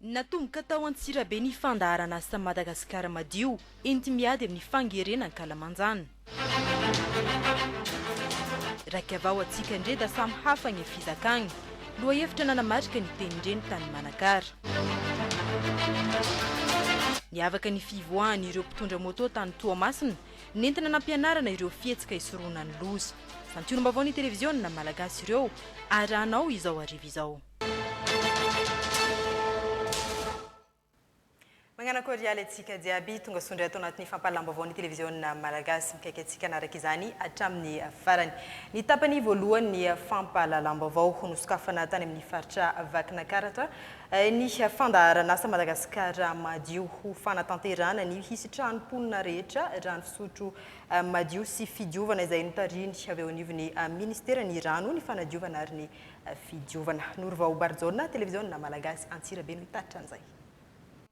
Natomboka tao Antsirabe ny fandaharan'asa Madagasikara Madio enti-miady amin'ny fangeren'ankalamanjana. Raika vao atsika ndre da samy hafa gne fizakagna. Lohahevitra nanamarika ny tenin-dreny tany Manakara. Niavaka ny fivoahan'ireo mpitondra moto tany Toamasina, nentina nampianarana ireo fihetsika hisorohana ny loza. Santionam-baovaon'ny televiziona malagasy ireo, arahanao izao hariva izao. Mañana kôrialy antsika jiaby tongasoa ndray ato anatin'ny fampahalam-baovao ny televiziona Malagasy. Mikaiky antsika hanaraka izany hatramin'ny farany. Ny tapany voalohany ny fampahalalam-baovao ho nosokafana tany amin'ny faritra Vakinakaratra ny fandaharan'asa Madagasikara madio ho fanatanterahana ny hisy trano mponina rehetra rano fisotro madio sy fidiovana izay notarihiny avy eo anivon'ny Ministeran'ny rano, ny fanadiovana ary ny Fidiovana. Norovao Barijaona, Televiziona Malagasy Antsirabe no hitatitra an'izay.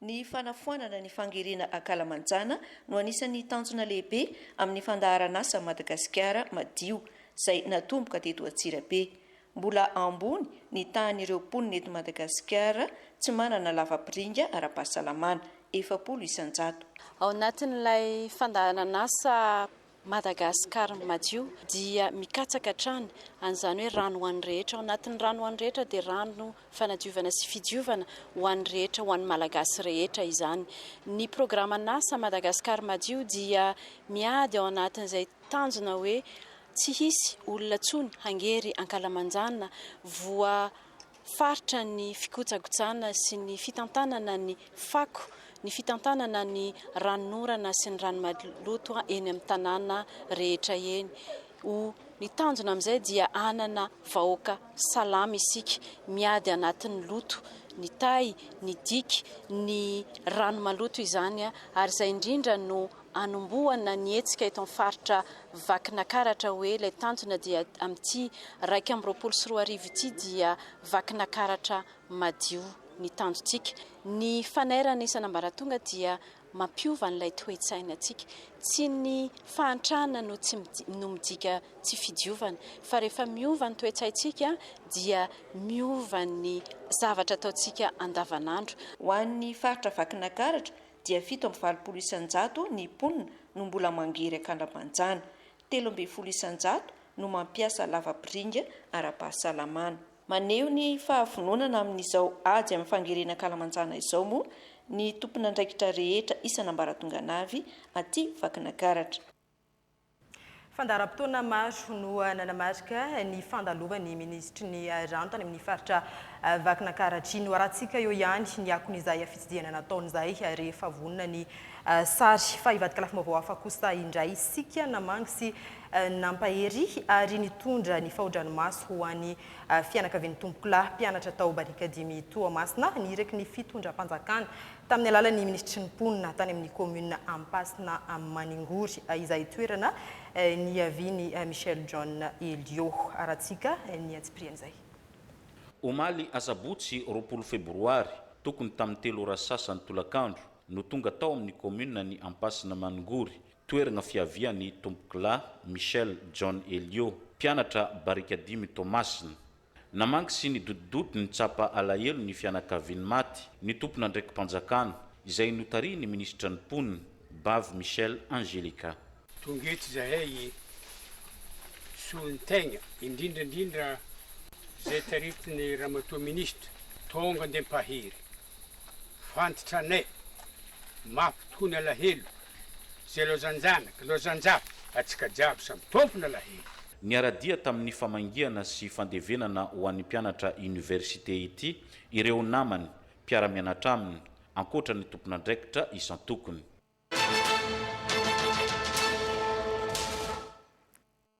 Ny fanafoanana ny fangerena ankalamanjana no anisan'ny tanjona lehibe amin'ny fandaharan'asa Madagasikara madio, izay natomboka teto Antsirabe. Mbola ambony ny tahan'ireo mponina eto Madagasikara tsy manana lavapiringa ara-pahasalamana, efapolo isan-jato. Ao anatin'ilay fandaharan'asa Madagascar madio dia mikatsaka hatrany an'izany hoe rano ho an'ny rehetra, ao anatin'ny rano ho an'ny rehetra dia rano fanadiovana sy fidiovana ho an'ny rehetra, ho an'ny Malagasy rehetra izany. Ny programan'asa Madagascar madio dia miady ao anatin'izay tanjona hoe tsy hisy olona tsony hangery ankalamanjana voa faritra ny fikojakojana sy ny fitantanana ny fako, ny fitantanana ny ranonorana sy ny rano maloto eny amin'ny tanàna rehetra eny. O Ny tanjona amin'izay dia hanana vahoaka salama isika, miady anatin'ny loto, ny tay, ny diky, ny rano maloto izany, ary izay indrindra no hanombohana ny hetsika eto amin'ny faritra Vakinakaratra hoe ilay tanjona dia amin'ity iraika amby roapolo sy roa arivo ity dia Vakinakaratra madio ny tanjontsika. Ny fanairana isan'ambaratonga dia mampiova an'ilay toe-tsainantsika. Tsy ny fahantrana no tsy no midika tsy fidiovana fa rehefa miova ny toe-tsaintsika dia miova ny zavatra ataontsika andavanandro. Ho an'ny faritra Vakinakaratra dia fito amby valopolo isan-jato ny mponina no mbola mangery an-kalamanjana. Telo ambin'ny folo isan-jato no mampiasa lavapiringa ara-pahasalamana. Maneho ny fahavononana amin'izao ady amin'ny fangerena an-kalamanjana izao moa ny tompon'andraikitra rehetra isan'ambaratonganavy aty Vakinakaratra. Fandaharam-potoana maro no nanamarika ny fandalovan'ny minisitry ny rano tany amin'ny faritra Vakinankaratra. Noharantsika eo ihany ny akon'izay fitsidihana nataony izay rehefa vonona ny sary. Fa hivadika lafim-baovao hafa kosa indray isika namangy sy nampahery ary nitondra ny faodranomaso ho an'ny fianakavian'ny tompokolahy mpianatra tao Barikadimy Toamasina niraky ny fitondram-panjakana tamin'ny alalan'ny minisitry ny mponina tany amin'ny kaominina Ampasina Maningory izahay toerana niavian'i Michel John Elio. Arahantsika ny antsipirian'izay. Omaly asabotsy roapolo febroary, tokony tamin'ny telo ora sy sasany tolakandro, no tonga tao amin'ny kaominina ny Ampasina Maningory, toeragna fiavian'ny tompokolahy Michel John Elio, mpianatra barika dimy Toamasina. Namangy sy nidodododo nitsapa alahelo ny fianakavian'ny maty, ny tompon'andraiki-panjakana, izay notarihin'ny minisitra ny mponina, Bavy Michel Angelica. Tonga eto izahay hisolo ny tegna, indrindra indrindra izay taritin'ny Ramatoa Minisitra, Tonga Andriampahery. Fantatra anay, mafy tokoa ny alahelo Ze lozanjanaka, lozanjafy, atsika jiaby samy tompona lahelo. Niara-dia tamin'ny famangiana sy fandevenana ho an'ny mpianatra oniversite ity ireo namany, mpiara-mianatra aminy, ankoatra ny tompon'andraikitra isan-tokony.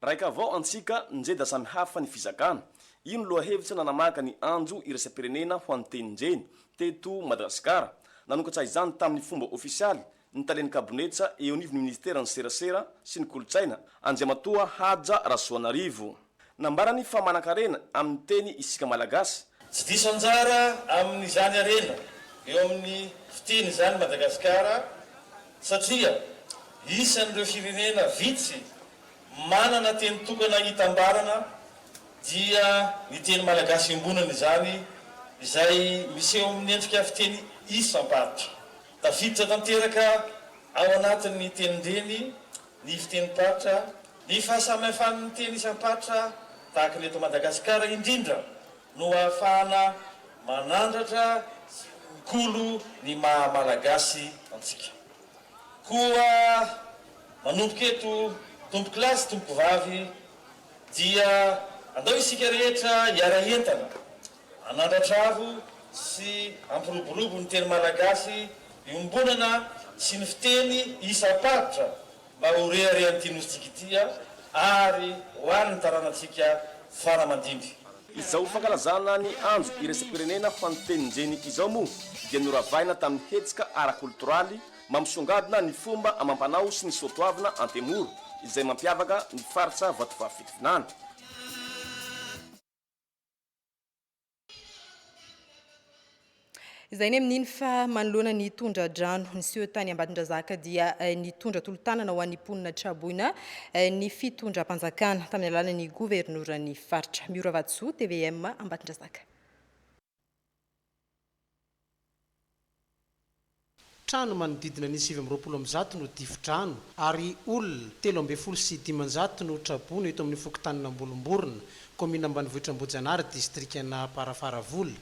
Raika avao antsika njeda samy hafa ny fizakana. Ino lohahevitra nanamaka ny andro iraisam-pirenena ho an'ny tenin-jeny teto Madagasikara? Nanokatra izany tamin'ny fomba ofisialy ny talen'ny kabonetsa eo anivon'ny minisiteran'ny serasera sy ny kolontsaina, Andriamatoa Haja Rasoanarivo. Nambarany fa manan-karena amin'ny teny isika Malagasy. Tsy diso anjara amin'izany harena eo amin'ny fiteny izany i Madagasikara satria isan'ireo firenena vitsy manana teny tokana itambarana dia ny teny malagasy iombonana izany izay miseho amin'ny endrika fiteny isam-paritra. Tafiditra tanteraka ao anatin'ny tenin-dreny ny fitenim-paritra, ny fahasamihafan'ny teny isam-paritra tahaka ny eto Madagasikara indrindra no ahafahana manandratra sy kolokolo ny maha Malagasy antsika. Koa manomboka eto Tompokolahy sy Tompokovavy dia andao isika rehetra hiara-hientana Hanandratravo sy hampiroborobo ny teny malagasy iombonana sy ny fiteny isam-paritra mba ho reharehan'ity Nosintsika ity ary ho an'ny taranantsika fara aman-dimby. Izao fankalazana ny Andro iraisam-pirenena ho an'ny tenin-jeny izao moa dia noravahina tamin'ny hetsika ara-kolotoraly mampisongadina ny fomba amam-panao sy ny soatoavina antemoro izay mampiavaka ny faritra Vatovavy-Fitovinany. Izay ny amin'iny fa manoloana ny tondra-drano niseho tany Ambatondrazaka dia eh, nitondra tolo-tanana ho an'ny mponina traboina eh, ny fitondram-panjakana tamin'ny alalan'ny governoran'ny faritra. Miora Vatosoa, TVM Ambatondrazaka. Trano manodidina ny sivy amby roapolo amby zato no difodrano ary olona telo ambin'ny folo sy dimanjato no traboina eto amin'ny fokontanin'Ambolomborona, kaominina ambanivohitr'Ambohijanahary, distrikan'Amparafaravola.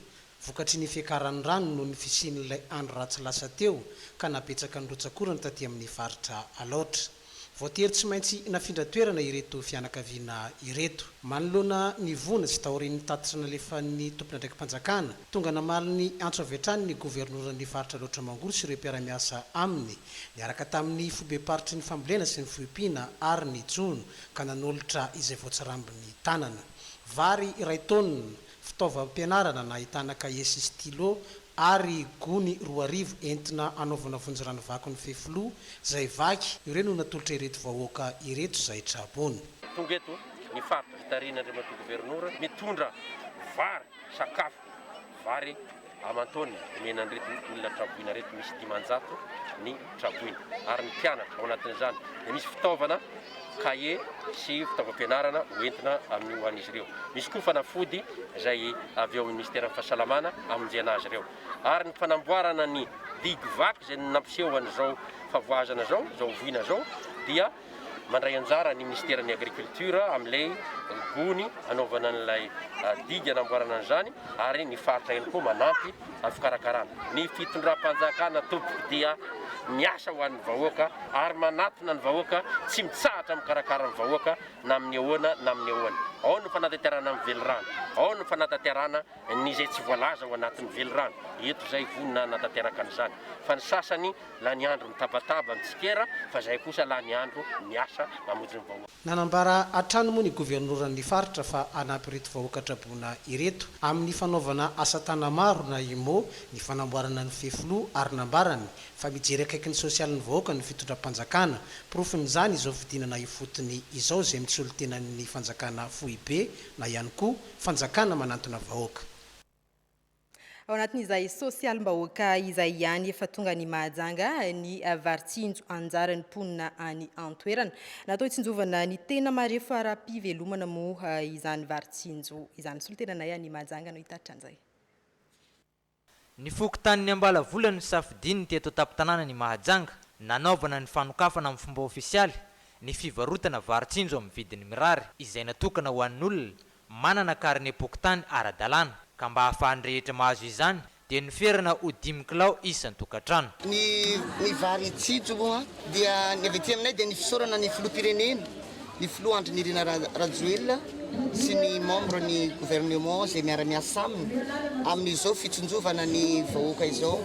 Vokatry ny fiakaran'ny rano noho ny fisian'ilay andro ratsy lasa teo ka nabetsaka ny rotsak'orana taty amin'ny faritra Alaotra. Voatery tsy maintsy nafindra toerana ireto fianakaviana ireto. Manoloana ny voina sy taorian'ny tatitra nalefan'ny tompon'andraiki-panjakana, tonga namaly ny antso avy hatrany ny governoran'ny faritra Alaotra Mangoro sy ireo mpiara-miasa aminy, niaraka tamin'ny foibem-paritry ny fambolena sy ny foiompiana ary ny jono, ka nanolotra izay voatsirambin'ny tanana. Vary iray taonina. Fitaovam-pianarana nahitana kahie sy stylo ary gony roa arivo entina hanaovana vonjy ranovaky ny fefiloha izay vaky, ireo no natolotra ireto vahoaka ireto izay tra-boina. Tonga eto ny faritra Fitarina Andriamatoa Governora mitondra vary, sakafo, vary Aman-taonina, omenan'ireto olona traboina ireto misy dimanjato ny traboina, ary ny mpianatra ao anatin'izany dia misy fitaovana, kahie sy fitaovam-pianarana hoentina amin'ny ho an'izy ireo. Misy koa fanafody izay avy ao amin'ny minisiteran'ny Fahasalamana hamonjena azy ireo. Ary ny fanamboarana ny digy vaky izay nampiseho an'izao favoazana izao, izao voina izao, dia Mandray anjara ny minisiteran'ny Agriculture amin'ilay gony hanaovana an'ilay didy hanamboarana an'izany ary ny faritra ihany koa manampy amin'ny fikarakarana. Ny fitondram-panjakana tompoko dia miasa ho an'ny vahoaka ary manatona ny vahoaka, tsy mitsahatra mikarakara ny vahoaka na amin'ny ahoana na amin'ny ahoana. Ao ny fanatanterahana ny velirano, ao ny fanatanterahana ny izay tsy voalaza ao anatin'ny velirano eto izay vonona hanatanteraka an'izany fa ny sasany lany andro mitabataba mitsikera fa izay kosa lany andro miasa mamonjy ny vahoaka. Nanambara hatrany moa ny governoran'ny faritra fa hanampy ireto vahoaka traboina ireto amin'ny fanaovana asa tana maro na IMO ny fanamboarana ny fefiloha ary nambarany fa mijery akaiky ny sosialin'ny vahoaka ny fitondram-panjakana. Porofon'izany izao fidinana ifotony izao izay misolo-tenan'ny fanjakana foibe na ihany koa fanjakana manantona vahoaka. Ao anatin'izay sosialim-bahoaka izay ihany efa tonga ny Mahajanga ny varitsinjo anjaran'ny mponina any an-toerana. Natao hitsinjovana ny tena marefo ara-pivelomana moa izany varitsinjo izany. Solontenanay any Mahajanga no hitaritra an'izay. Ny fokontanin'i Ambalavola no nisafidian'ny teto an-tampon-tanànan'i Mahajanga nanaovana ny fanokafana amin'ny fomba ofisialy ny fivarotana vary tsinjo amin'ny vidiny mirary izay natokana ho an'olona manana karinem-pokontany ara-dalàna ka mba ahafahan'ny rehetra mahazo izany dia noferana ho dimy kilao isan-tokantrano. Ny vary tsinjo moa dia ny avy aty aminay dia ny fisaorana ny Filoham-pirenena. ny filoha Andry Nirina Rajoelina sy ny membre ny gouvernement izay miara-miasa aminy amin'izao fitsinjovana ny vahoaka izao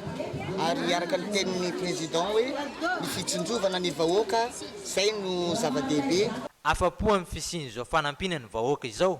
ary araka ny tenin'ny président hoe ny fitsinjovana ny vahoaka izay no zava-dehibe. Afa-po amin'ny fisian'izao fanampiana ny vahoaka izao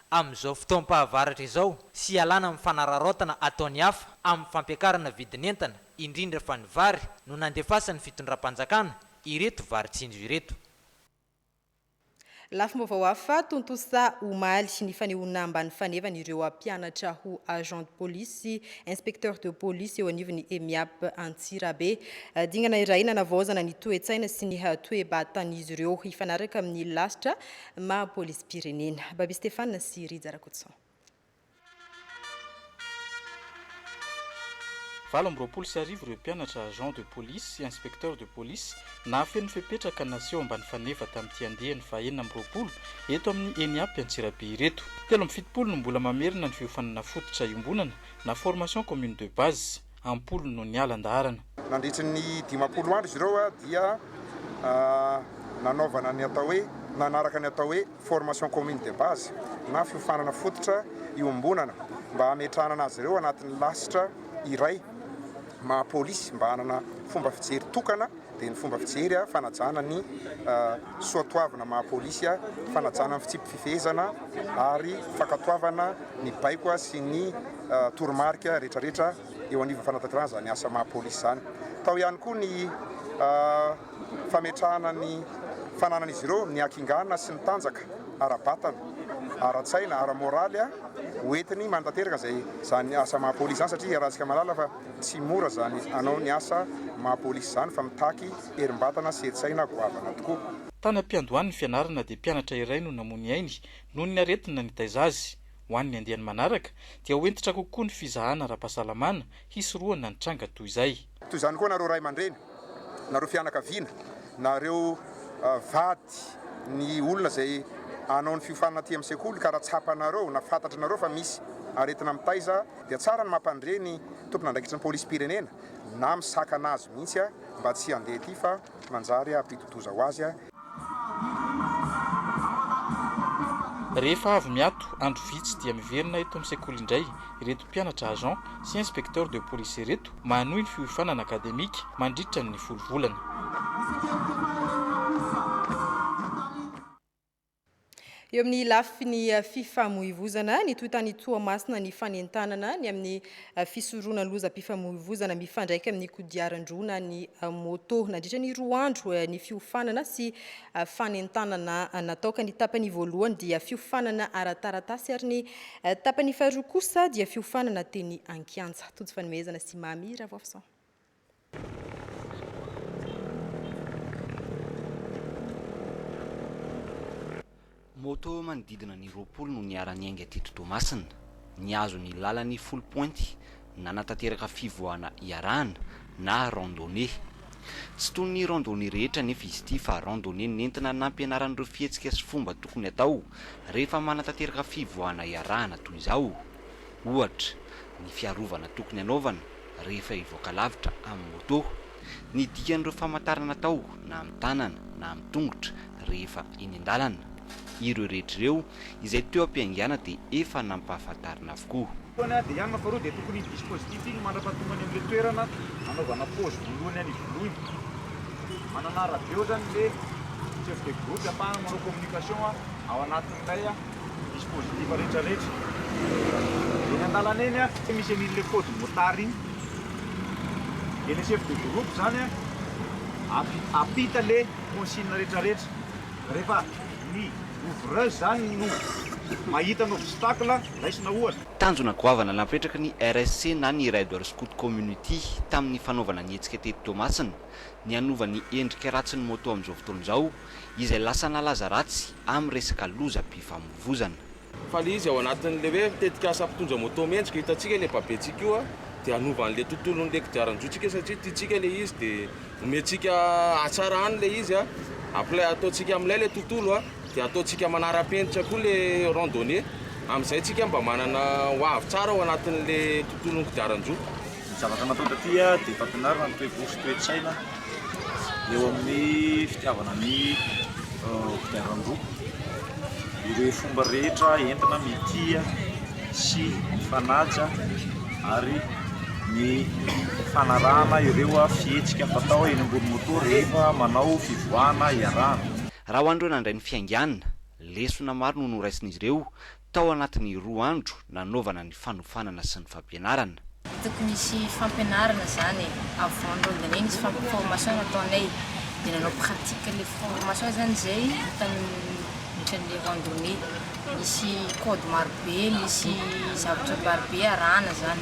amin'izao fotoam-pahavaratra izao sy hialana amin'ny fanararaotana ataon'ny hafa amin'ny fampiakarana vidin'entana, indrindra fa ny vary, no nandefasan'ny fitondram-panjakana ireto varin-tsinjo ireto. Lafim-baovao hafa tontosa omaly, ny fanehoana ambany fanevany ireo mpianatra ho agent de police sy inspecteur de police eo anivon'ny Emiap Antsirabe. Dingana iray nanavaozana ny toe-tsaina sy ny toe-batan'izy ireo hifanaraka amin'ny lasitra Maha polisim-pirenena. Babie Stéphane sy Rija Rakotoson. Valo amby roapolo sy arivo ireo mpianatra agents de police sy inspecteurs de police nahafeno fepetra ka naseho ambany faneva tamin'ity andiany fahenina amby roapolo eto amin'ny ENIAP Antsirabe ireto. Telo amby fitopolo no mbola mamerina ny fiofanana fototra iombonana na formation commune de base. am-polony no niala an-daharana. Nandritry ny dimampolo andro izy ireo dia nanaovana ny atao hoe, nanaraka ny atao hoe formation commune de base na fiofanana fototra iombonana mba hametrahanana azy ireo anatin'ny lasitra iray maha-polisy mba hanana fomba fijery tokana dia ny fomba fijery, fanajana ny soatoavina maha polisy, fanajana ny fitsipi-pifehezana ary fankatoavana ny baiko sy ny toromarika rehetrarehetra eo anivon'ny fanatanterahana izany asa maha polisy izany. Tao ihany koa ny fametrahana ny fananan'izy ireo ny hakingana sy ny tanjaka ara-batana, ara-tsaina, ara-moraly ho entiny manatanteraka izay izany asa maha polisy izany satria iarahantsika mahalala fa Tsy mora zany anao ny asa maha polisy zany fa mitaky herimbatana sy hetsaina goavana tokoa. Tany am-piandohan'ny fianarana dia mpianatra iray no namoa ny ainy noho ny aretina nitaiza azy. Ho an'ny andiany manaraka dia ho hentitra kokoa ny fizahana ara-pahasalamana hisorohana ny tranga toy izay. Toy izany koa nareo ray aman-dreny, Nareo fianakaviana, nareo vady ny olona izay hanao ny fiofanana aty amin'ny sekoly ka raha tsapanareo na fantatranareo fa misy aretina mitaiza dia tsara ny mampandre ny tompon'andraikitry ny polisim-pirenena na misakana azy mihitsy mba tsy handeha aty fa manjary hampidi-doza ho azy Rehefa avy miato andro vitsy dia miverina eto amin'ny sekoly indray ireto mpianatra agent sy inspecteur de police ireto mba hanohy ny fiofanana akademika mandritra ny folo volana. Eo amin'ny lafiny fifamoivozana, nitohy tany Toamasina ny fanentanana ny amin'ny fisoroana lozam-pifamoivozana mifandraika amin'ny kodiaran-droa na ny moto. Nandritra ny roa andro ny fiofanana sy fanentanana natao ka ny tapany voalohany dia fiofanana ara-taratasy ary ny tapany faharoa kosa dia fiofanana teny an-kianja. Tojo fanomezana sy Mamy Ravoafison. Moto manodidina ny roapolo no niara-niainga teto Toamasina. Nihazo ny lalan'ny folo pointy, nanatanteraka fivoahana iarahana na randonnée. Tsy toy ny randonnée rehetra anefa izy ity fa randonnée nentina nampianarana ireo fihetsika sy fomba tokony hatao rehefa manatanteraka fivoahana iarahana toy izao, ohatra, ny fiarovana tokony hanaovana rehefa hivoaka lavitra amin'ny moto. Ny dikan'ireo famantarana atao na amin'ny tanana na amin'ny tongotra rehefa eny an-dalana. Ireo rehetra ireo izay teo am-piaingàna dia efa nampahafantarina avokoa. Fotoana dia ianona faharoa dia tokony iny dispositif iny mandra-pahatonga any amin'ilay toerana anaovana pause voalohany any Ivolony. Manana radio zany le chef de groupe ampahany manao communication ao anatin'ilay. Dispositif rehetra rehetra eny andalana eny a, tsy misy an'iny le code motard iny de le chef de groupe zany a ampita le consigne rehetra rehetra rehefa ny ouvreuse zany no mahita ny obstacle raisina ohatra. Tanjona goavana napetraky ny RSC na ny Rider Scout Community tamin'ny fanaovana ny hetsika teto Toamasina ny hanova ny endrika ratsin'ny moto amin'izao fotoana izao, izay lasa nalaza ratsy amin'ny resaka lozam-pifamoivozana. Fa ilay izy ao anatin'ilay hoe tetikasa mpitondra moto mendrika hitantsika ilay babentsika io dia hanova an'ilay tontolon'ilay kodiaran-droantsika satria tiantsika ilay izy dia omentsika hatsarany ilay izy apply ataontsika amin'ilay ilay tontolo dia ataontsika manara-penitra koa ilay rond donné, amin'izay isika mba manana ho avy tsara ao anatin'ilay tontolon'ny kodiaran-droa. Ny zavatra natao taty dia fampianarana ny toe-po sy toe-tsaina eo amin'ny fitiavana ny kodiaran-droa. Ireo fomba rehetra entina mitia sy mifanaja ary ny fanarahana ireo fihetsika fatao eny ambony moto rehefa manao fivoahana iarahana. Raha ho an'ireo nandray ny fiaingàna, lesona maro no noraisin'izy ireo Tao anatin'ny roa andro nanaovana ny fanofanana sy ny fampianarana. Hitako nisy fampianarana zany e, avant ny rondinay nisy formation nataonay de nanao pratique le formation zany zay tamin'ny randonnée, nisy code marobe, nisy zavatra marobe arahana zany.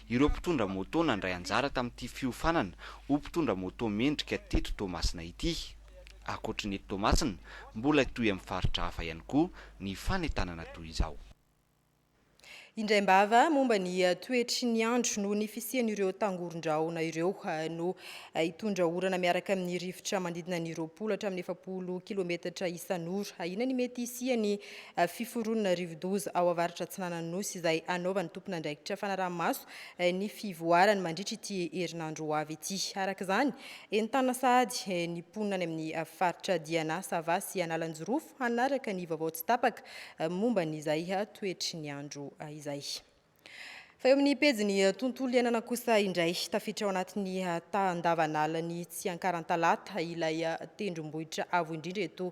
Ireo mpitondra môtô nandray anjara tamin'ity fiofanana ho mpitondra môtô mendrika teto Toamasina ity. Ankoatry ny eto Toamasina, mbola hitohy amin'ny faritra hafa ihany koa ny fanentanana toy izao. Indraim-bava momba ny toetry ny andro noho ny fisian'ireo tangoron-drahona ireo no hitondra orana miaraka amin'ny rivotra manodidina ny roapolo hatramin'ny efapolo kilometatra isan'ora. Ahiana ny mety hisian'ny fiforonana rivodoza ao avaratra atsinanan'ny Nosy izay hanaovan'ny tompon'andraikitra fanaraha-maso ny fivoarany mandritra ity herinandro ho avy ity. Araka izany, entanina sahady ny mponina any amin'ny faritra Diana, Sava sy Analanjirofo hanaraka ny vaovao tsy tapaka momba an'izay toetry ny andro izay. Fa eo amin'ny pejin'ny tontolo iainana kosa indray, tafiditra ao anatin'ny tahan-davan'alan'ny Tsiankaran-Talata ilay tendrombohitra avo indrindra eto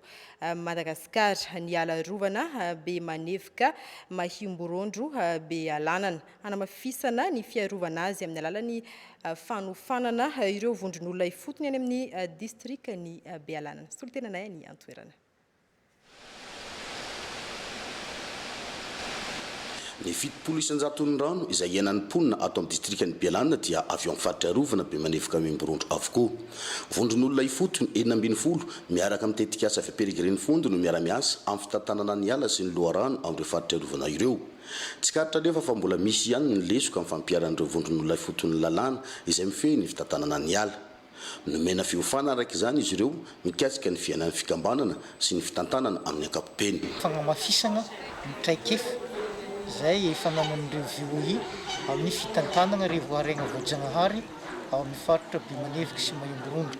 Madagasikara, ny ala arovana be manevoka Mahimborondro Bealanana. Hanamafisana ny fiarovana azy amin'ny alalan'ny fanofanana ireo vondron'olona ifotony any amin'ny distrikan'i Bealanana. Solontenanay any an-toerana. Ny fitopolo isan-jaton'ny rano izay iainan'ny mponina ato amin'ny distrikan'i Bialana dia avy ao amin'ny faritra arovana Bemanevoka Miomborondro avokoa. Vondron'olona ifotony enina ambin'ny folo miaraka amin'ny tetikasa avy Peregrine Fund no miara-miasa amin'ny fitantanana ny ala sy ny loharano amin'ireo faritra arovana ireo. Tsikaritra anefa fa mbola misy ihany ny lesoka amin'ny fampiharan'ireo vondron'olona ifotony ny lalàna izay mifehy ny fitantanana ny ala. Nomena fiofana araka izany izy ireo mikasika ny fiainan'ny fikambanana sy ny fitantanana amin'ny ankapobeny. Fanamafisana ny traikefa izay efa nanan'ireo VOA amin'ny fitantanana ireo voarainga voajanahary ao amin'ny faritra Bemanevika sy Maimboronga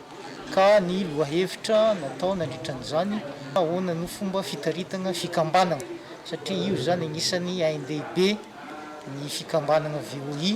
ka ny lohahevitra natao nandritra an'izany ahoana no fomba fitaritana fikambanana satria io izany anisany ain-dehibe ny fikambanana VOA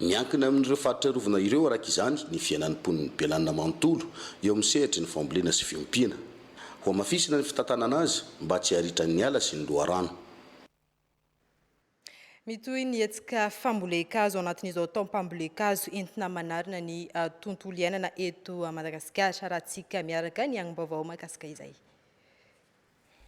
Miankina amin'ireo faritra arovana ireo, araka izany, ny fiainan'ny mponin'i Belanina manontolo eo amin'ny sehatry ny fambolena sy fiompiana. Hohamafisina ny fitantanana azy mba tsy haritran'ny ala sy ny loharano. Mitohy ny hetsika fambolen-kazo anatin'izao taom-pambolen-kazo entina manarina ny tontolo iainana eto Madagasikara. Arahantsika miaraka ny angom-baovao mahakasika izay.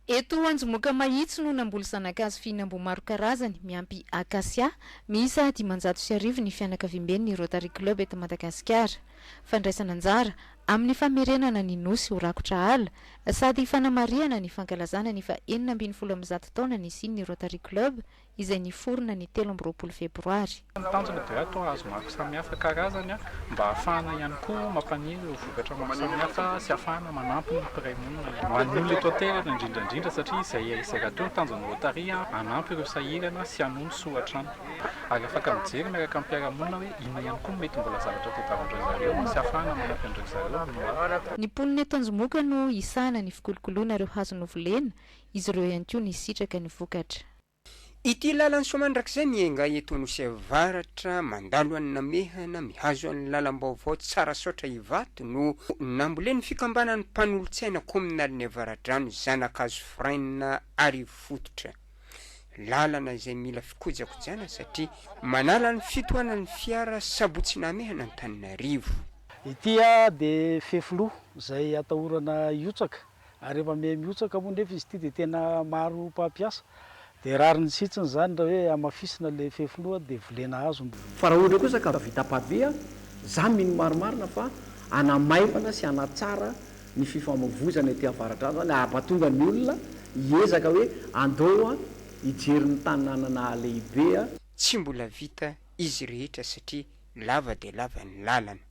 Eto Anjomoka Mahitsy no namboly zanakazo fihinam-boa maro karazany, miampy Acacia, miisa dimanjato sy arivo ny fianakaviamben'ny Rotary Club eto Madagasikara. Fandraisana anjara amin'ny famerenana ny Nosy ho rakotra ala sady fanamarihana ny fankalazana ny faha enina ambin'ny folo amin'ny zato taona nisian'ny Rotary Club izay niforona ny telo amby roapolo febroary. Ny tanjona dia atao hazo maro samihafa karazany mba hahafahana ihany koa mampaniry ireo vokatra maro samihafa sy hahafahana manampy ny mpiray monina ihany koa. Ho an'ny olona eto an-toerana indrindra indrindra satria izay izay rahateo ny tanjon'ny Rotary hanampy ireo sahirana sy hanohy ny soa hatrany. Ary afaka mijery miaraka amin'ny mpiara-monina hoe inona ihany koa no mety mbola zavatra tadiavin'ireo zareo sy hahafahana manampy an'ireo zareo no ho avy. Ny mponina eto Anjomoka no hisahana ny fikolokoloana ireo hazo novolena Izy ireo ihany koa nisitraka ny vokatra. Ity lalan'i Soamandrakizay miainga eto Anosy Avaratra mandalo an'i Namehana mihazo an'ny lalam-baovao Tsarasaotra Ivato no nambolen'ny fikambanan'ny mpanolotsaina kaominalin'ny Avaradrano Zanakazo Frein Arivo Fototra. Lalana izay mila fikojakojana satria manala ny fitohanan'ny fiara Sabotsy Namehana Antananarivo. Ity dia fefiloha izay atahorana hiotsaka. ary rehefa mihamihotsaka moa nefa izy ity dia tena maro mpampiasa dia rariny sitsiny izany raha hoe hamafisina ilay fefiloha dia volena azo ny Fa raha ohatra kosa ka vita pavé, za mino marimarina fa hanamaivana sy hanatsara ny fifamoivozana ety avaratra any zany hahapatonga ny olona hiezaka hoe andao hijery ny tanàna nahalehibe, Tsy mbola vita izy rehetra satria lava dia lava ny lalana.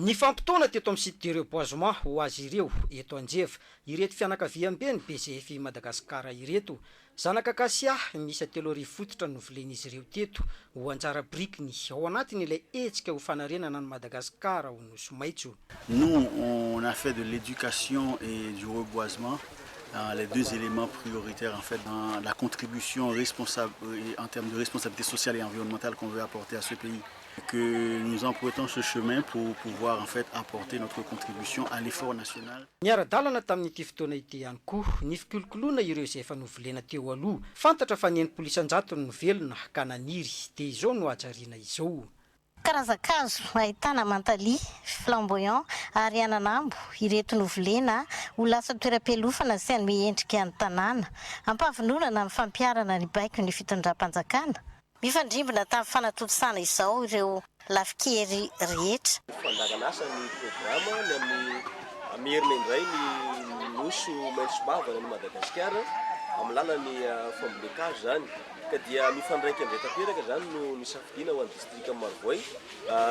Nifampitaona teto amin'ny site de reboisement ho azy ireo eto Anjeva ireto fianakaviamben'ny BGF Madagascar ireto. Zanaka kasia miisa telo arivo fototra no novolen'izy ireo teto ho anjara birikiny ao anatin'ilay hetsika ho fanarenana an'i Madagasikara ho Nosy maitso. Nous, on a fait de l'éducation et du reboisement les deux éléments prioritaires en fait dans la contribution responsable en termes de responsabilité sociale et environnementale qu'on veut apporter à ce pays. que nous emprunttons ce chemin pour pouvoir en fait apporter notre contribution à l'effort national. Niara-dalana tamin'ity fotoana ity ihany koa ny fikolokoloana ireo izay efa novolena teo aloha. Fantatra fa ny enimpolo isan-jatony no velona ka naniry, dia izao no hajariana izao. Karazan-kazo ahitana mantalia, flamboyant, ary ananambo ireto novolena ho lasa toeram-pialofana sy hanome endrika ny tanàna. Ampahavononana amin'ny fampiharana ny baikon'ny fitondram-panjakana. Mifandrimbona tamin'ny fanatontosana izao ireo lafin-kery rehetra. Ho fandaharan'asa ny programa ny amin'ny hamerina indray ny nosy ho maitso mavana an'i Madagasikara amin'ny lalan'ny fambolen-kazo izany ka dia mifandraika indray tanteraka izany no nisafidiana ho an'ny distrikan'i Marovoay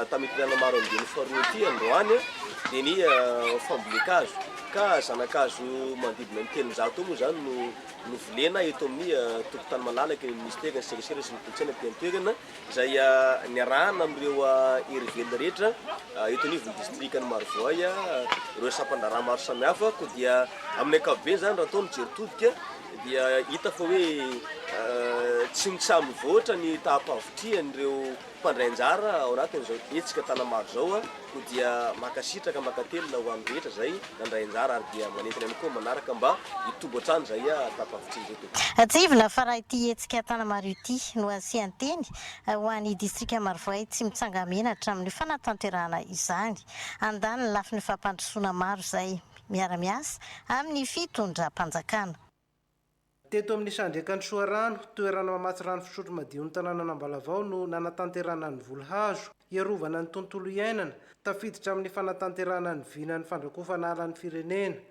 Tamikilana maro amin'ny dian'ny Formitia androany dia ny fambolen-kazo ka zana-kazo manodidina ny telonjato eo moa izany no novolena eto amin'ny tokontany malalaka ny Minisitera ny serasera sy ny kolontsaina aty an-toerana izay niarahana amin'ireo hery velona rehetra eto anivon'ny distrikan'i Marovoay ireo sampan-draharaha maro samihafa koa dia amin'ny ankapobeny izany raha atao ny jery todika dia hita fa hoe tsy mitsam-mivoatra ny taham-pahavitrihan'ireo Mpandray anjara ao anatin'izao hetsika Tanamaro izao koa dia mankasitraka mankatelina ho an'ny rehetra izay nandray anjara ary dia manentana ihany koa manaraka mba hitobo hatrany izay tafavitr'ireto. Tsiahivina fa raha ity hetsika Tanamaro ity no asian-teny ho an'ny distrika Marovoay tsy mitsanga-mena hatramin'ny fanatanterahana izany. Handany ny lafiny fampandrosoana maro izay miara-miasa amin'ny fitondram-panjakana. Teto amin'ny Isandraikan'i Soarano, toerana mamatsy rano fisotro madion'ny tanànan'Ambalavao no nanatanterahana ny voly hazo hiarovana ny tontolo iainana, tafiditra amin'ny fanatanterahana ny vinan'ny fandrakofana ala ny firenena.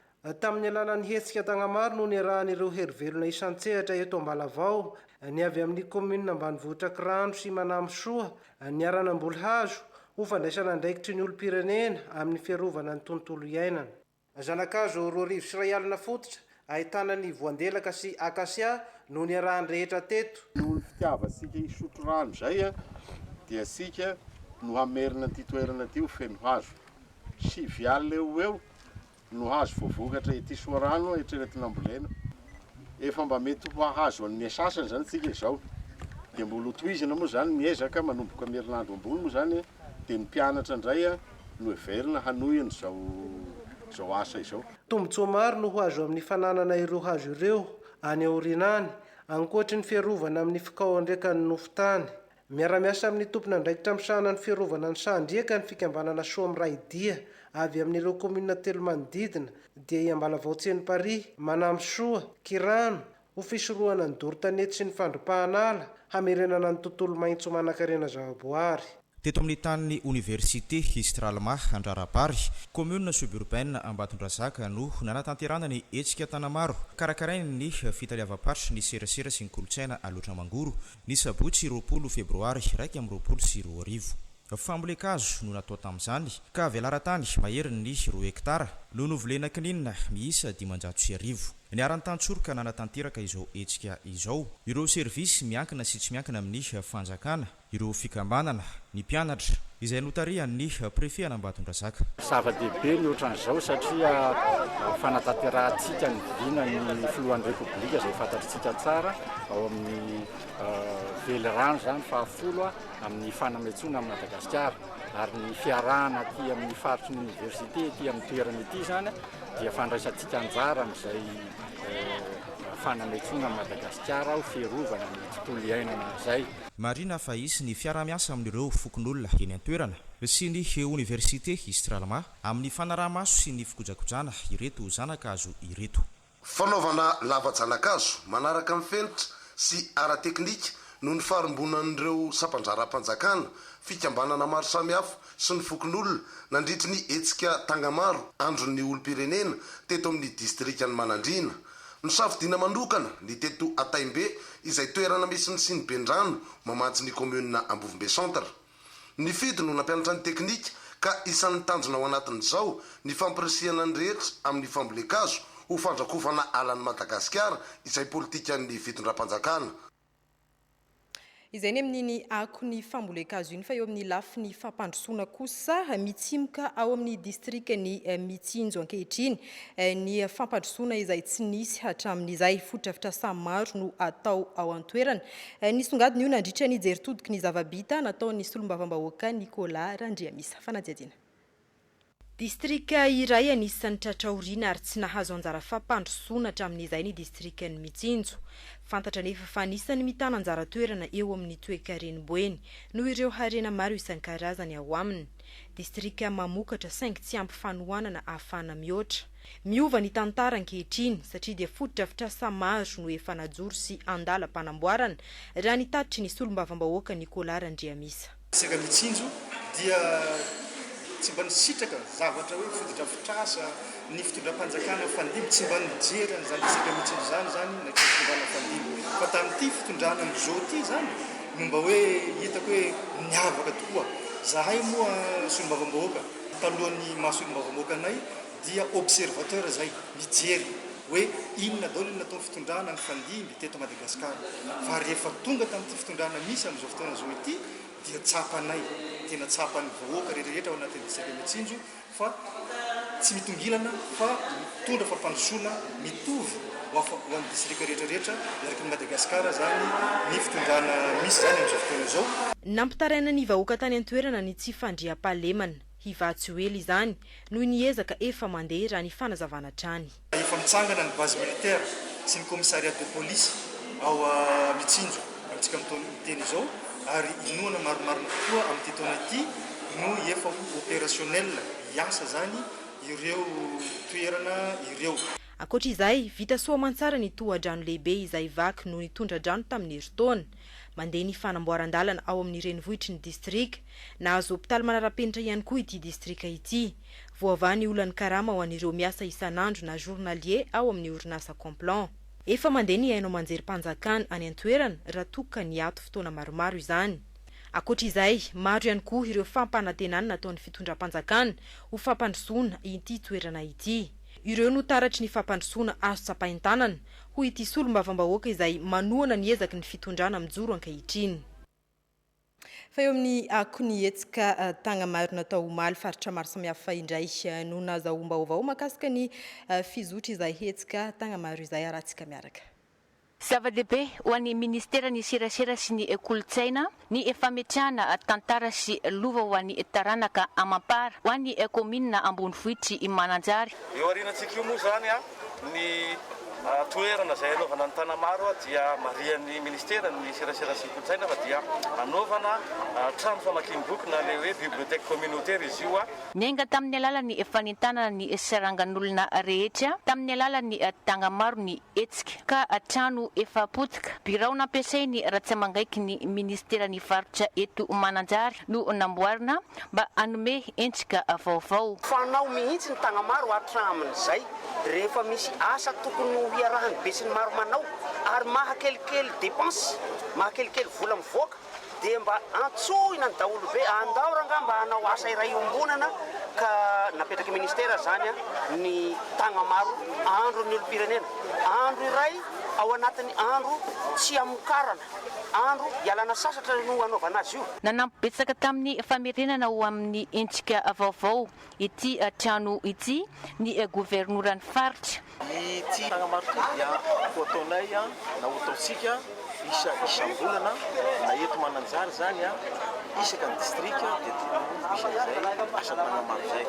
Tamin'ny alalan'ny hetsika Tagnamaro no niarahan'ireo herivelona isan-tsehatra eto Ambalavao, ny avy amin'ny kaominina ambanivohitra Kirano sy Manamsoa, niara-namboly hazo, ho fandraisana andraikitry ny olom-pirenena amin'ny fiarovana ny tontolo iainana. Zana-kazo roa arivo sy iray alina fototra ahitana ny voandelaka sy akasia no niarahan'ny rehetra teto. Noho ny fitiavantsika hisotro rano izay dia isika no hamerina an'ity toerana ity ho feno hazo. Sivy alina eo ho eo no hazo voavokatra ety Soarano hatreny Tinambolena. Efa mba mety ho hahazo an'ny asasany izany isika izao. Dia mbola ho tohizana moa izany ny ezaka manomboka amin'ny herinandro ambony moa izany. dia ny mpianatra indray no heverina hanohy an'izao asa izao. Tombontsoa maro no ho azo amin'ny fananana ireo hazo ireo any aoriana any, ankoatry ny fiarovana amin'ny fikaoan-driekan'ny nofon-tany. Miara-miasa amin'ny tompon'andraikitra misahana ny fiarovana ny sahan-driaka ny fikambanana Soa Miray Dia avy amin'ireo kaominina telo manodidina, dia i Ambalavao Tsenimparihy, Manamsoa, Kirano, ho fisorohana ny doro-tanety sy ny fandripahana ala, hamerenana ny tontolo maitso manan-karena zavaboary. Teto amin'ny tanin'ny Oniversite Histralma Andrarabary, commune suburbaine Ambatondrazaka no nanatanterahana ny hetsika Tanamaro karakarain'ny fitaleavam-paritry ny serasera sy ny kolontsaina Alaotra Mangoro, ny sabotsy roapolo febroary iraika amby roapolo sy roa arivo. Fambolen-kazo no natao tamin'izany ka velaran-tany maherin'ny roa hektara no novolena kininina miisa dimanjato sy arivo. Niharan'ny tantsoro ka nanatanteraka izao hetsika izao ireo servisy miankina sy tsy miankina amin'ny fanjakana, ireo fikambanana, ny mpianatra, izay notarihan'ny Prefet an'Ambatondrazaka. Zava-dehibe ny ohatran'izao satria fanatanterahantsika ny vina ny Filohan'ny Repoblika izay fantatritsika tsara ao amin'ny velirano izany fahafolo amin'ny fanametsoana an'i Madagasikara ary ny fiarahana aty amin'ny faritry ny Oniversite ity amin'ny toerana ity izany dia fandraisantsika anjara amin'izay fanametroana an'i Madagasikara ho fiarovana ny tontolo iainana izay. Marihina fa hisy ny fiaraha-miasa amin'ireo fokonolona eny an-toerana sy ny oniversite Istralma amin'ny fanaraha-maso sy ny fikojakojana ireto zana-kazo ireto. Fanaovana lava-janakazo manaraka ny fenitra sy ara-teknika no nifarimbonan'ireo sampandraram-panjakana, fikambanana maro samihafa sy ny fokonolona nandritry ny hetsika Tangamaro Andron'ny olom-pirenena teto amin'ny distrikan'i Manandriana. Nosafidiana manokana ny teto Antaimbe izay toerana misy ny siniben-drano mamatsy ny kaominina Ambovombe Centre. Nifidy no nampianatra ny teknika ka isan'ny tanjona ao anatin'izao ny fampirisihana ny rehetra amin'ny fambolen-kazo ho fandrakofana alan'i Madagasikara izay politikan'ny fitondram-panjakana. Izay ny amin'iny akon'ny fambolen-kazo iny fa eo amin'ny lafiny fampandrosoana kosa mitsimoka ao amin'ny distrikan'i Mitsinjo ankehitriny ny fampandrosoana izay tsy nisy hatramin'izay. Fotodrafitrasa maro no atao ao an-toerana. Nisongadina io nandritra ny jeritodiky ny zava-bita nataon'ny solombavambahoaka Nicolas Randriamisa. Fanadihadiana. Distrika iray anisan'ny tratra aoriana ary tsy nahazo anjara fampandrosoana hatramin'izay ny distrikan'i Mitsinjo. Fantatra anefa fa anisan'ny mitana anjara toerana eo amin'ny toekaren'i Boeny noho ireo harena maro isan-karazany ao aminy. Distrika mamokatra saingy tsy ampy fanohanana ahafahana mihoatra. Miova ny tantara ankehitriny satria dia fotodrafitrasa maro no efa najoro sy andalam-panamboarana, raha ny tatitry ny solombavambahoaka Nicolas Randriamisa. Saingy ny tsinjo dia tsy mba nisitraka zavatra hoe fotodrafitrasa ny fitondram-panjakana mifandimby, tsy mba nijery an'izany resaka mitsinjo izany izany ilay fitondrana mifandimby fa tamin'ity fitondrana amin'izao ity izany no mba hoe hitako hoe niavaka tokoa. Izahay moa solombavambahoaka talohan'ny maha solombavambahoaka anay, dia observateur zay mijery hoe inona daolo ny nataony fitondrana nifandimby teto Madagascar fa rehefa tonga tamity fitondrana misy amizao fotoana zao ity dia tsapanay tena tsapany vahoaka rehetrarehetra ao anatiny distrika Betsinjo fa tsy mitongilana fa mitondra fampandrosoana mitovy hoafa hoany distrika rehetrarehetra erakiny Madagascar zany ny fitondrana misy zany amizao fotoana zao. Nampitaraina ny vahoaka tany antoerana ny tsy fandriampahalemana. Hivaha tsy ho ela izany noho ny ezaka efa mandeha raha ny fanazavana hatrany. Efa mitsangana ny base militaire sy ny commissariat de police ao Mitsinjo amintsika amin'itony miteny izao ary inoana marimarina tokoa amin'ity taona ity no efa ho opérationnel hiasa izany ireo toerana ireo. Ankoatra izay, vita soa aman-tsara ny tohadrano lehibe izay vaky noho ny tondra-drano tamin'ny herintaona. Mandeha ny fanamboaran-dalana ao amin'ny renivohitry ny distrika. Nahazo hopitaly manara-penitra ihany koa ity distrika ity. Voavaha ny olan'ny karama ho an'ireo miasa isan'andro na journaliers ao amin'ny orinasa Complan. Efa mandeha ny haino aman-jerim-panjakana any an-toerana raha toa ka niato fotoana maromaro izany. Ankoatra izay, maro ihany koa ireo fampanantenana nataon'ny fitondram-panjakana ho fampandrosoana ity toerana ity. Ireo no taratry ny fampandrosoana azo tsapain-tanana. hoy ity solombavambahoaka izay manohana ny ezaky ny fitondrana mijoro ankehitriny. Fa eo amin'ny akon'ny hetsika Tagnamariona tao omaly, faritra maro samihafa indray no nazahoam-baovao mahakasika ny fizotry izay hetsika Tagnamaro izay, harahantsika miaraka. Zava-dehibe ho an'ny Ministeran'ny Serasera sy ny Kolontsaina Ny fametrahana tantara sy lova ho an'ny taranaka amam-para ho an'ny kaominina ambonivohitr'i Mananjary. Io aorianantsika io moa izany, ny toerana izay hanaovana ny Tanamaro dia marihan'ny Ministeran'ny serasera sy ny kolontsaina fa dia hanaovana trano famakiam-boky na ilay hoe bibliothèque communautaire izy io. Niainga tamin'ny alalan'ny fanentanana ny sarangan'olona rehetra tamin'ny alalan'ny tanga maro ny. Hetsika ka trano efa potika, birao nampiasain'ny Ratsiamangaiky ny minisiteran'ny faritra eto Mananjary no namboarina mba hanome endrika vaovao. Fanao mihitsy ny Tagnamaro hatramin'izay rehefa misy asa tokony ho iarahan'ny besinimaro manao ary mahakelikely dépenses, mahakelikely vola mivoaka dia mba antsoina ny daholo ve andao rangah mba hanao asa iray iombonana ka napetraky ministera zany ny tagnamaro andron'ny olompirenena andro iray ao anatin'ny andro tsy hamokarana andro hialana sasatra no hanaovana azy io Nanampy betsaka tamin'ny famerenana ho amin'ny hetsika vaovao Ity trano ity ny governoran'ny faritra. Ity tagnamaro ity dia ho ataonay na ho ataontsika isa isam-bolana na eto Mananjary izany isaka ny distrika dia tokony ho misy an'izay asa tagnamaro izay.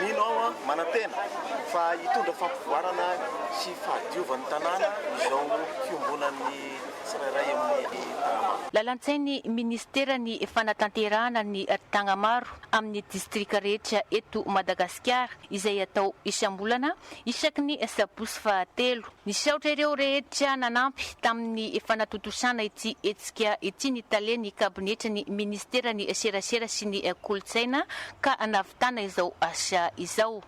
Mino aho aho manantena fa hitondra fampivoarana sy fahadiovan'ny tanàna izao fiombonan'ny tsirairay amin'ny tagnamaro. Lalan-tsain'ny minisiteran'ny fanatanterahana ny tagnamaro. amin'ny distrika rehetra eto Madagasikara izay atao isam-bolana isaky ny sabotsy fahatelo. Nisaotra ireo rehetra nanampy tamin'ny fanatontosana ity hetsika ity ny tale ny kabinetry ny ministeran'ny serasera sy ny kolontsaina ka nahavitana izao asa izao.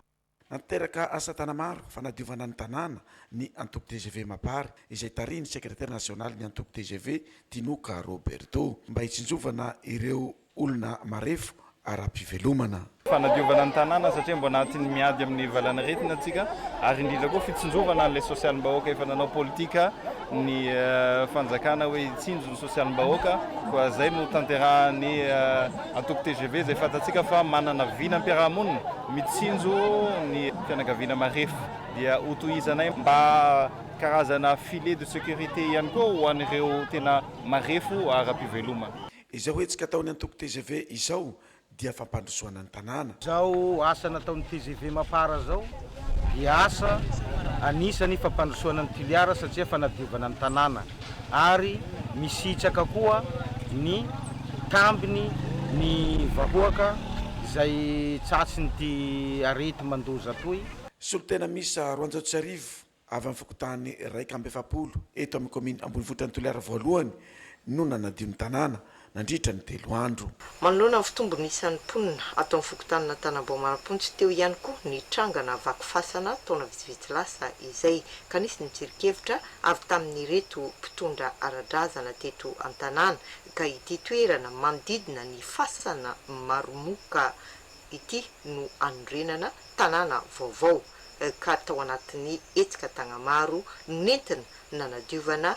Nateraka asa tana maro fanadiovana ny tanàna ny antoko tgv Mapar izay tarihin'ny sekretera nasionalin'ny antoko tgv, Tinoka Roberto, mba hitsinjovana ireo olona marefo ara-pivelomana. Fanadiovana ny tanàna satria mbola anatin'ny miady amin'ny valanaretina isika ary indrindra koa fitsinjovana an'ilay sosialim-bahoaka efa nanao politika ny fanjakana hoe hitsinjo ny sosialim-bahoaka koa izay no tanterahan'ny antoko tgv izay fantatsika fa manana vinam-piarahamonina Mitsinjo ny fianakaviana marefo dia hotohizanay mba karazana filet de sécurité ihany koa ho an'ireo tena marefo ara-pivelomana. Izao hetsika ataon'ny antoko tgv izao dia fampandrosoana ny tanàna. Izao asa nataon'ny tgv Mapar izao dia asa anisany fampandrosoana ny Toliara satria fanadiovana ny tanàna. ary misitraka koa ny tambiny ny vahoaka izay tratrin'ity areti-mandoza toy. Solontena miisa roanjato sy arivo avy amin'ny fokontany iraika amby efapolo eto amin'ny kaominina ambonivohitr'i Toliara Voalohany no nanadio ny tanàna nandritra ny telo andro. Manoloana ny fitombon'ny isan'ny mponina ato amin'ny fokontanin'Antanambaomarampontsy teo ihany koa ny trangana vaky fasana taona vitsivitsy lasa izay ka nisy ny tsirinkevitra avy tamin'ireto mpitondra ara-drazana teto an-tanàna ka ity toerana manodidina ny fasana Maromoka ity no anorenana tanàna vaovao ka tao anatin'ny hetsika Tagnamaro no nentina nanadiovana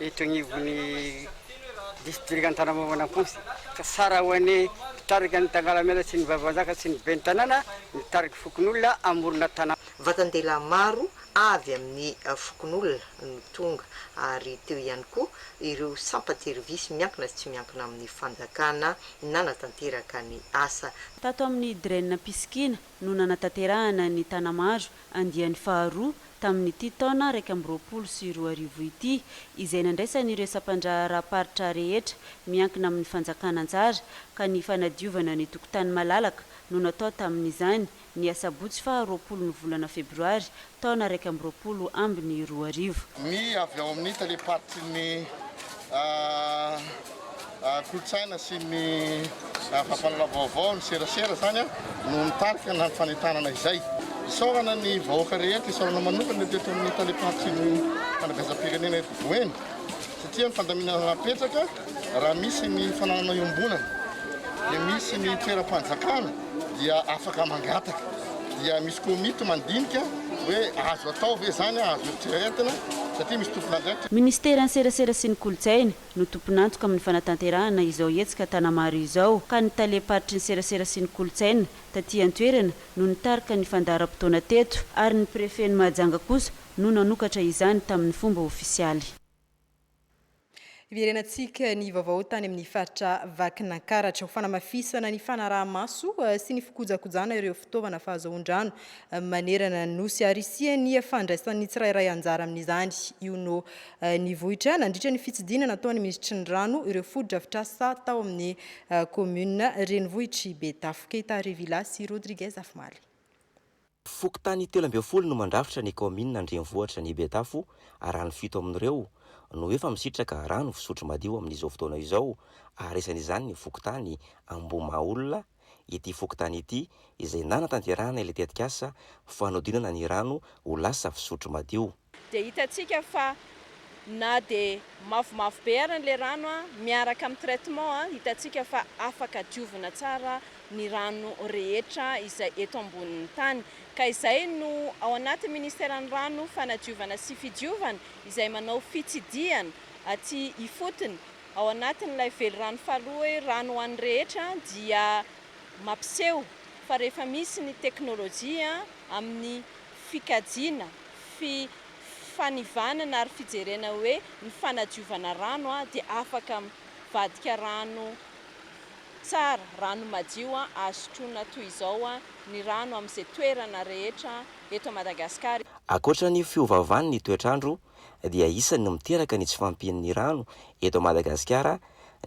eto agnivon'ny district Antanambovana Amponsy ka tsara ho an'ny mpitarika ny tangalamena sy ny vavahazaka sy ny ben'ny tanàna mitariky fokonolona amorona tanàna. Vatan-dehilahy maro avy amin'ny fokonolona no tonga ary teo ihany koa ireo sampan-tserivisy miankina sy tsy miankina amin'ny fanjakana nanatanteraka ny asa. Tato amin'ny Dren Pisikina, no nanatanterahana ny Tanamaro andiany faharoa tamin'ity taona iraika amby roapolo sy roa arivo ity, izay nandraisan'ireo sampandraharaham-paritra rehetra miankina amin'ny fanjakana anjara, ka ny fanadiovana ny tokotany malalaka no natao tamin'izany, ny asabotsy faha roapolo ny volana febroary taona iraika amby roapolo ambiny roa arivo. Ny avy ao amin'ny talem-paritrin'ny kolontsaina sy ny fampanana vaovao ny serasera izany no mitarika ny fanentanana izay. Isaorana ny vahoaka rehetra, isaorana manokana teto amin'ny talem-paritrin'ny fanabeazam-pirenena eto Boeny satria ny fandaminana napetraka Raha misy ny fananana iombonana dia misy ny toeram-panjakana dia afaka mangataka, dia misy komity mandinika hoe azo atao ve izany, azo eritreretina satria misy tompon'andraikitra. Ministeran'ny Serasera sy ny Kolontsaina no tompon'antoka amin'ny fanatanterahana izao hetsika Tanamaro izao ka ny talem-paritry ny Serasera sy ny Kolontsaina taty an-toerana no nitarika ny fandaharam-potoana teto ary ny Prefen'i Mahajanga kosa no nanokatra izany tamin'ny fomba ofisialy. Hiverenantsika ny vaovao tany amin'ny faritra Vakinankaratra ho fanamafisana ny fanaraha-maso sy ny fikojakojana ireo fitaovana fahazoan-drano manerana ny nosy ary hisian'ny fandraisan'ny tsirairay anjara amin'izany io no nivoitra nandritra ny fitsidina nataon'ny minisitry ny rano ireo fotodrafitrasa tao amin'ny commune renivohitr'i Betafo. Keita Revila sy Rodriguez Afomaly. Fokontany telo ambin'ny folo no mandrafitra ny kaominina an-drenivohitra ny Betafo ary ny fito amin'ireo no efa misitraka rano fisotro madio amin'izao fotoana izao ary isan'izany ny fokontany Ambohimahaolona ity fokontany ity izay nanatanterahana ilay tetikasa fanodinana ny rano ho lasa fisotro madio. dia hitantsika fa na dia mavomavo be ary ilay rano miaraka amin'ny traitement hitantsika fa afaka diovina tsara ny rano rehetra izay eto ambonin'ny tany ka izay no ao anatin'ny ministeran'ny rano fanadiovana sy fidiovana izay manao fitsidihana aty ifotony ao anatin'ilay velirano faharoa hoe rano ho an'ny rehetra dia mampiseho fa rehefa misy ny teknolojia amin'ny fikajiana, fi, fanivanana ary fijerena hoe ny fanadiovana rano dia afaka mi, vadika rano tsara, rano madio azo sotroina toy izao ny rano amin' izay toerana rehetra eto Madagasikara. Ankoatra ny fiovaovan' ny toetrandro dia isan' ny miteraka ny tsy fahampian' ny rano eto Madagasikara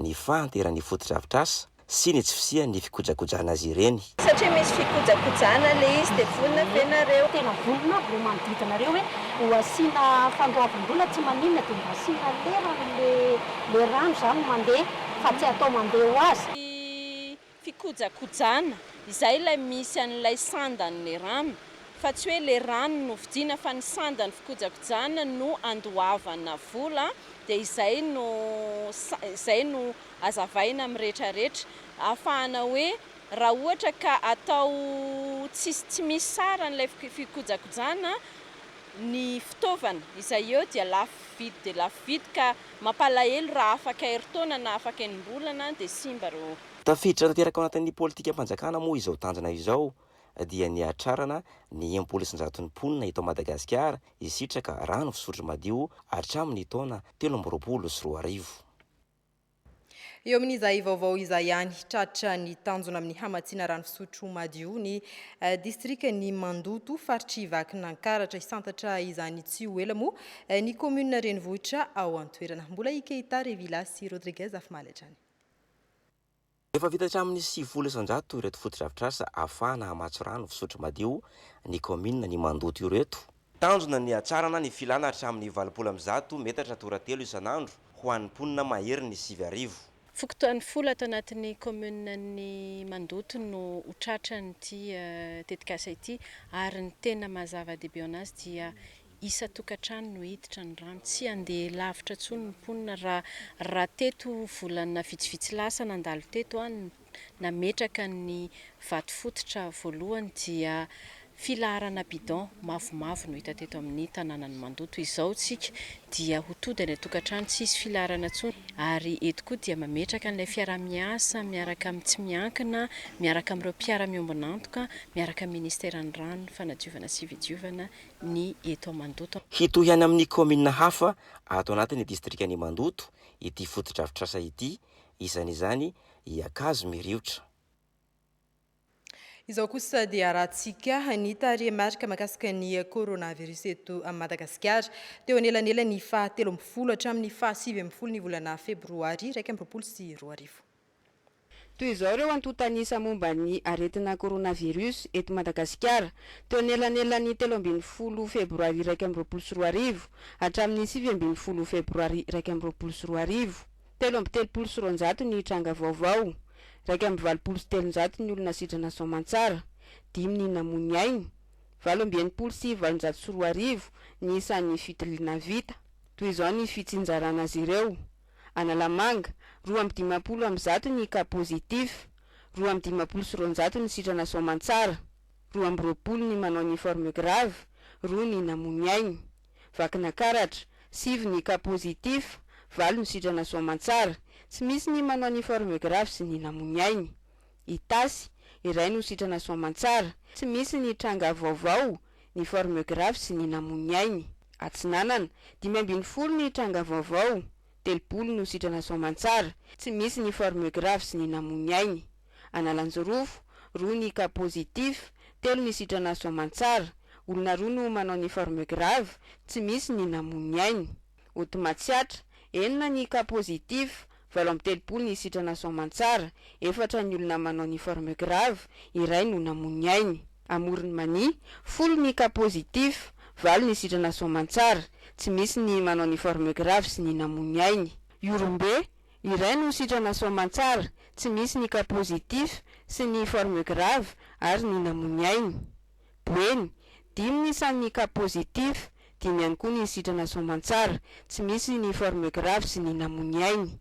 ny fahanteran' ny fotodrafitrasa, sy ny tsy fisian'ny fikojakojana azy ireny. Satria misy fikojakojana ilay izy dia vonona ve nareo? Tena vonona aby ireo manodidina anareo hoe ho asiana fandoavam-bola tsy maninona dia mba asiana lerany ilay rano izany mandeha fa tsy atao mandeha ho azy. Ny fikojakojana, izay ilay misy an'ilay sandan'ny rano fa tsy hoe ilay rano no vidiana fa ny sandan'ny fikojakojana no andoavana vola dia izay no izay no azavaina amin'ny retraretra ahafahana hoe raha ohatra ka atao tsisy tsy misy saran'ilay fikojakojana ny fitaovana izay eo dia lafo vidy dia lafo vidy ka mampalahelo raha afaka herintaona na afaka enim-bolana dia simba ireo Tafiditra tanteraka ao anatin'ny politikam-panjakana moa izao tanjona izao dia ny hahatrarana ny enimpolo isanjaton'ny mponina eto Madagasikara hisitraka rano fisotro madio hatramin'ny taona telo amby roapolo sy roa arivo. Eo amin'izay vaovao izay ihany, tratra ny tanjona amin'ny hamatsiana rano fisotro madio ny eh, distrikan'i Mandoto, faritr'i Vakinankaratra. Hisantatra izany tsy ho ela moa eh, ny kaominina renivohitra ao an-toerana. Mbola i Keita Revilla sy Rodriguez Afimaly hatrany. Efa vita hatramin'ny sivifolo isan-jato ireto fotodrafitrasa ahafahana hamatsy rano fisotro madio ny kaominina ny mandoto ireto. Tanjona ny hatsarana ny filana hatramin'ny valopolo amby zato metatra toratelo isan'andro ho an'ny mponina mahery ny sivy arivo. Fokontany folo ato anatin'ny kaomininan'ny mandoto no ho tratran'ity tetikasa ity ary ny tena maha zava-dehibe ao anazy dia isan-tokantrano no hiditra ny rano. Tsy handeha lavitra intsony ny mponina raha raha teto volana vitsivitsy lasa nandalo teto aho no nametraka ny vato fototra voalohany dia filaharana bidon mavomavo no hita teto amin'ny tanànan'i Mandoto. Izao isika dia ho tody any an-tokantrano tsy hisy filaharana intsony ary eto koa dia mametraka an'ilay fiaraha-miasa miaraka amin'ny tsy miankina, miaraka amin'ireo mpiara-miombon'antoka, miaraka amin'ny ministeran'ny rano, fanadiovana sy fidiovana ny eto Mandoto. Hitohy any amin'ny kaominina hafa ato anatin'ny distrikan'i Mandoto ity fotodrafitrasa ity, isan'izany i Ankazo Miriotra. Izao kosa dia arahantsika ny tarehimarika mahakasika ny coronavirus eto Madagasikara. Teo anelanelan'ny faha telo ambin'ny folo hatramin'ny faha sivy ambin'ny folo ny volana febroary iraika amby roapolo sy roa arivo. Toy izao ireo antontan'isa momba ny aretina coronavirus eto Madagasikara, teo anelanelan'ny telo ambin'ny folo febroary iraika amby roapolo sy roa arivo hatramin'ny sivy ambin'ny folo febroary iraika amby roapolo sy roa arivo, telo amby telopolo sy roanjato ny tranga vaovao, iraika amby valopolo sy telonjato ny olona sitrana soamantsara, dimy ny namoy ny ainy, valo amby enimpolo sy valonjato sy roa arivo ny isan'ny fitiliana vita. Toy izao ny fitsinjarana azy ireo. Analamanga, roa amby dimampolo amby zato ny cas positif, roa amby dimampolo sy roanjato ny sitrana soamantsara, roa amby roapolo ny manao ny forme grave, roa ny namono ainy. Vakinakaratra, sivy ny cas positif, valo ny sitrana soamantsara, tsy misy ny manao ny forme grave sy ny namono ainy. Itasy, iray no sitrana soamantsara, tsy misy ny tranga vaovao, ny forme grave sy ny namoy ainy. Atsinanana, dimy ambin'ny folo ny tranga vaovao, telopolo no sitrana soamantsara, tsy misy ny forme grave sy ny namoy ainy. Analanjirofo, roa ny cas positif, telo ny sitrana soamantsara, olona roa no manao ny forme grave, tsy misy ny namoy ainy. Ody Matsiatra, enina ny cas positif, valo amby telopolo ny sitrana soamantsara, efatra ny olona manao ny forme grave, iray no namoy ny ainy. Amoron'i Mania, folo ny cas positif, valo ny sitrana soamantsara, tsy misy ny manao ny forme grave sy ny namoy ny ainy. Ihorombe, iray no sitrana soamantsara, tsy misy ny cas positif sy ny forme grave ary ny namoy ny ainy. Boeny, dimy ny isan'ny cas positif, dimy ihany koa ny sitrana soamantsara, tsy misy ny forme grave sy ny namoy ny ainy.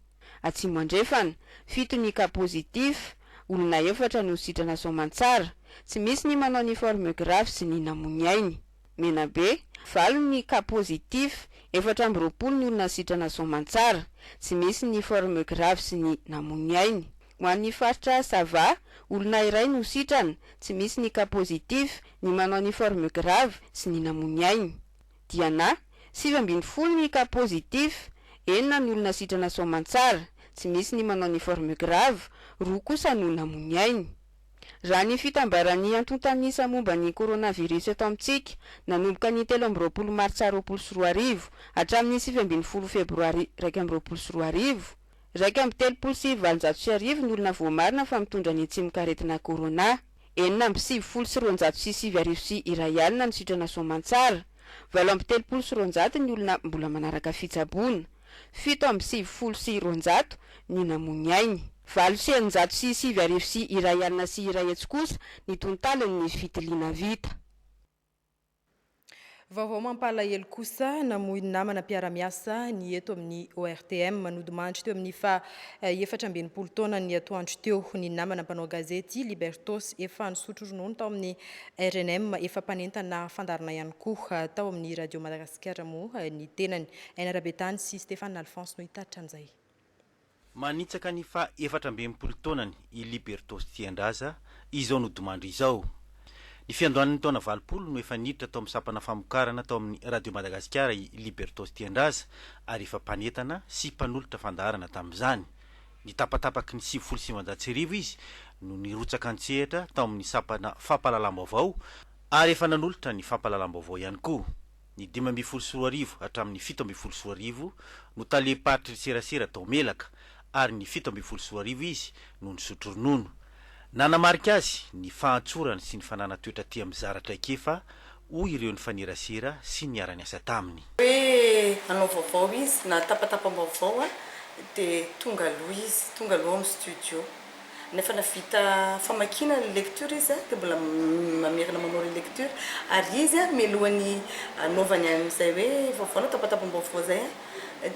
Atsimo Andrefana, fito ny cas positif, olona efatra no sitrana soamantsara, tsy misy ny manao ny forme grave sy ny namoy ny ainy. Menabe, valo ny cas positif, efatra amby roapolo ny olona sitrana soamantsara, tsy misy ny forme grave sy ny namoy ny ainy. Ho an'ny faritra Sava, olona iray no sitrana, tsy misy ny cas positif, ny manao ny forme grave sy ny namoy ny ainy. Diana, sivy ambin'ny folo ny cas positif, enina ny olona sitrana soamantsara, tsy misy ny manao ny forme grave, roa kosa no namoy ny ainy. Raha ny fitambaran'ny antontan'isa momba ny coronavirus eto amintsika, nanomboka ny telo amby roapolo martsa roapolo sy roa arivo, hatramin'ny sivy ambin'ny folo febroary iraika amby roapolo sy roa arivo, Iraika amby telopolo sy valonjato sy arivo ny olona voamarina fa mitondra ny tsimokaretina Corona. Enina amby sivifolo sy roanjato sy sivy arivo sy iray alina no sitrana soamantsara. Valo amby telopolo sy roanjato ny olona mbola manaraka fitsaboana. Fito amby sivifolo sy roanjato ny namoy ainy. Valo sy eninjato sy sivy arivo sy iray alina sy iray hetsy kosa ny tontalin'ny fitiliana vita. Vaovao mampalahelo kosa, namoy ny namana mpiara-miasa ny eto amin'ny ORTM. Nodimandry teo amin'ny faha efatra amby enimpolo taonan'ny atoandro teo ny namana mpanao gazety Libertos, efa nisotro ronono tao amin'ny rnm, efa mpanentana fandaharana ihany koa tao amin'ny Radio Madagasikara moa ny tenany. Aina Rabetany sy Stephane Alphonse no hitaritra an'izay. Manitsaka ny faha efatra amby enimpolo taonany i Liberto Stiandraza izao nodimandry izao. Ny fiandohan'ny taona valopolo no efa niditra tao amin'ny sampana famokarana tao amin'ny Radio Madagasikara i Liberto Stiandraza ary efa mpanentana sy mpanolotra fandaharana tamin'izany. Ny tapatapaky ny sivifolo sy sivinjato sy arivo izy no nirotsaka an-tsehatra tao amin'ny sampana fampahalalam-baovao ary efa nanolotra ny fampahalalam-baovao ihany koa. Ny dimy ambin'ny folo sy roa arivo hatramin'ny fito ambin'ny folo sy roa arivo no talem-paritry ny serasera tao Melaka ary ny fito ambin'ny folo sy roa arivo izy no nisotro ronono. Nanamarika azy ny fahantsorany sy ny fananany toetra tia mizara traikefa, hoy ireo nifanerasera sy niara-niasa taminy. Hoe hanao vaovao izy, na tapatapam-baovao dia tonga aloha izy, tonga aloha ao amin'ny studio. Nefa na vita famakiana le lecture izy dia mbola mamerina manao relecture ary izy mialohan'ny anaovany an'izay hoe vaovao na tapatapam-baovao izay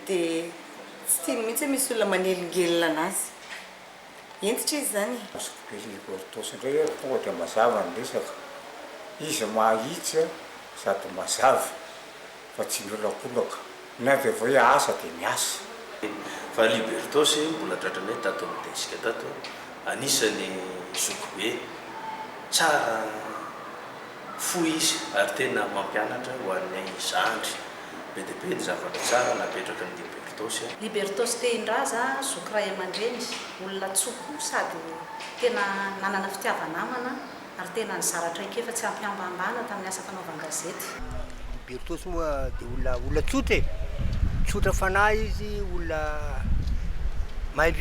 dia tsy tiany mihitsy hoe misy olona manelingelina anazy. Hentitra izy izany e! Azoko be le Gortos indray ary tonga dia mazava ny resaka. Izy mahitsy sady mazava. fa tsy miolakolaka, ny avy avy hoe asa dia miasa. Fa Libertos mbola tratranay tato amin'ny desk tato, anisan'ny zokibe, tsara fo izy ary tena mampianatra ho anay zandry, be dia be ny zavatra tsara napetrakin'i Libertos. Libertos Tehindraza, zoky ray aman-dreny, olona tso-po sady tena nanana fitiava-namana, ary tena nizara traikefa tsy am-pihambahambana tamin'ny asa fanaovan-gazety. I Bertos moa dia olona, olona tsotra e! Tsotra fanahy izy, olona mahay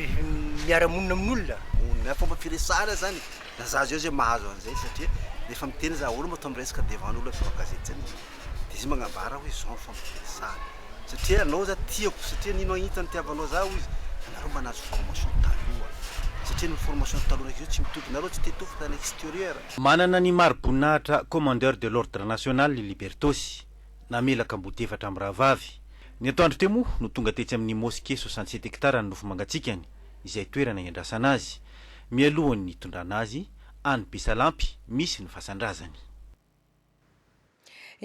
miara-monina amin'olona. Ny fomba firesahana izany e! Raha za zao izay mahazo an'izay satria rehefa miteny za ahoana moa atao miresaka devant ny olona mpanao gazety izany e! de izy magnambara hoe zao ny fomba fiasany satria anao za tiako satria nino aho intsony nitiavanao za hoy izy de nareo mba nahazo formation taloha satria ny formation taloha ndraiky zao tsy mitovy nareo tsy te tompoko tany exterieur. Manana ny mari-boninahitra Commandeur de l'Ordre National i Libertosy, namelaka ambodiefatra mirahavavy. Ny atoandro teo moa no tonga tetsy amin'ny Mosquée soixante sept hectares any Nofomangatsikany, izay toerana iandrasana azy, mialohan'ny hitondrana azy any Besalampy misy ny fasan-drazany.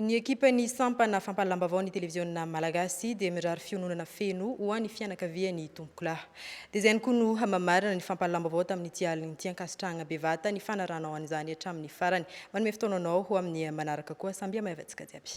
Ny ekipan'ny sampana fampahalalam-baovaon'ny televiziona malagasy dia mirary fiononana feno ho an'ny fianakavian'ny tompokolahy. Dia izay ihany koa no hamamarana ny fampahalalam-baovao tamin'ity alina ity. Ankasitrahagna bevata ny fanarahanao an'izany hatramin'ny farany. Manome fotoana anao ho amin'ny manaraka koa. Samby hamaivantsika jiaby.